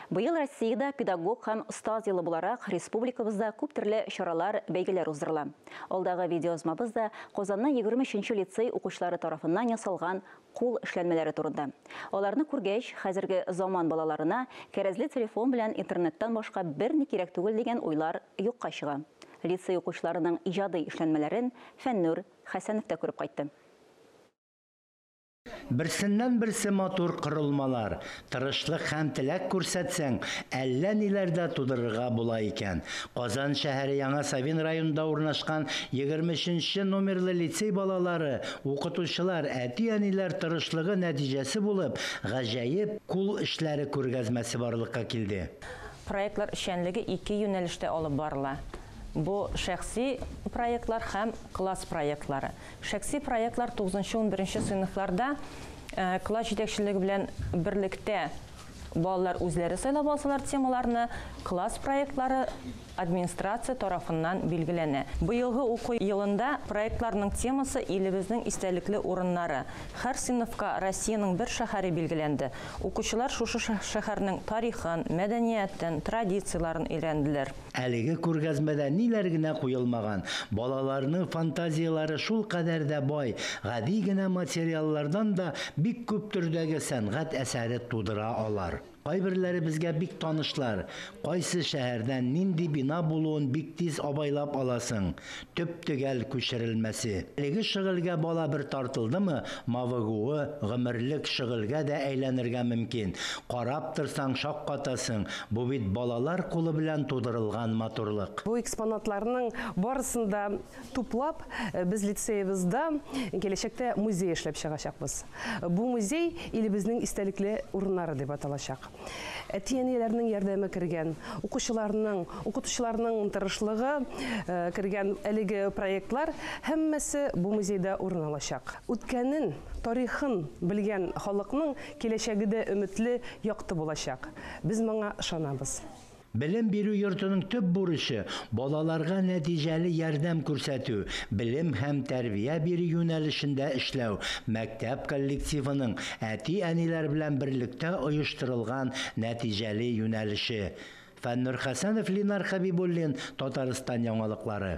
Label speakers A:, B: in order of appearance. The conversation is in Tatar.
A: Быел Россиядә Педагог һәм остаз елы буларак республикабызда күп төрле чаралар, бәйгеләр уздырыла. Алдагы видеоязмабыз да Казанның егерме өченче лицей укучылары тарафыннан ясалган кул эшләнмәләре турында. Аларны күргәч, хәзерге заман балаларына кәрәзле телефон белән интернеттан башка берни кирәк түгел дигән уйлар юкка чыга. Лицей укучыларының иҗади эшләнмәләрен Фәннүр Хәсәнов та күреп кайтты.
B: Берсеннән-берсе матур корылмалар, тырышлык һәм теләк күрсәтсәң, әллә ниләр дә тудырырга була икән. Казан шәһәре Яңа Савин районында урнашкан 23 нче номерлы лицей балалары, укытучылар, әти-әниләр тырышлыгы нәтиҗәсе булып гаҗәеп кул эшләре күргәзмәсе барлыкка килде. Проектлар
C: эшчәнлеге ике юнәлештә алып барыла, бу, шәхси проектлар һәм класс проектлары. Шәхси проектлар тугызынчы-унберенче сыйныфларда класс җитәкчелеге белән берлектә балалар үзләре сайлап алсалар темаларны, класс проектлары администрация тарафыннан билгеләнә. Быелгы уку елында проектларның темасы илебезнең истәлекле урыннары. Һәр сыйныфка Россиянең бер шәһәре билгеләнде. Укучылар шушы шәһәрнең тарихын, мәдәниятен, традицияләрен өйрәнделәр. Әлеге күргәзмәдә
B: ниләр генә куелмаган, балаларның фантазияләре шулкадәр дә бай, гади генә материаллардан да бик күп төрдәге сәнгать әсәре тудыра алар. Кайберләре безгә бик танышлар, кайсы шәһәрдән нинди бина булуын бик тиз абайлап аласың, төп-төгәл күчерелмәсе. Әлеге шөгыльгә бала бер тартылдымы, мавыгуы гомерлек шөгыльгә дә әйләнергә мөмкин. Карап торсаң, шаккатасың, бу бит балалар кулы белән тудырылган матурлык. Бу экспонатларның
D: барысын да туплап, без лицеебызда киләчәктә музей эшләп чыгачакбыз. Бу музей илебезнең истәлекле урыннары дип аталачак. Әти-әниләрнең ярдәме кергән, укучыларның, укытучыларның тырышлыгы э, кергән әлеге проектлар һәммәсе бу музейда урын алачак. Үткәнен, тарихын белгән халыкның киләчәге дә өметле, якты булачак. Без моңа ышанабыз. Белем бирү
B: йортының төп бурычы, балаларга нәтиҗәле ярдәм күрсәтү, белем һәм тәрбия бирү юнәлешендә эшләү, мәктәп коллективының әти-әниләр белән берлектә оештырылган нәтиҗәле юнәлеше. Фәннур Хәсәнов, Линар Хәбибуллин, Татарстан яңалыклары.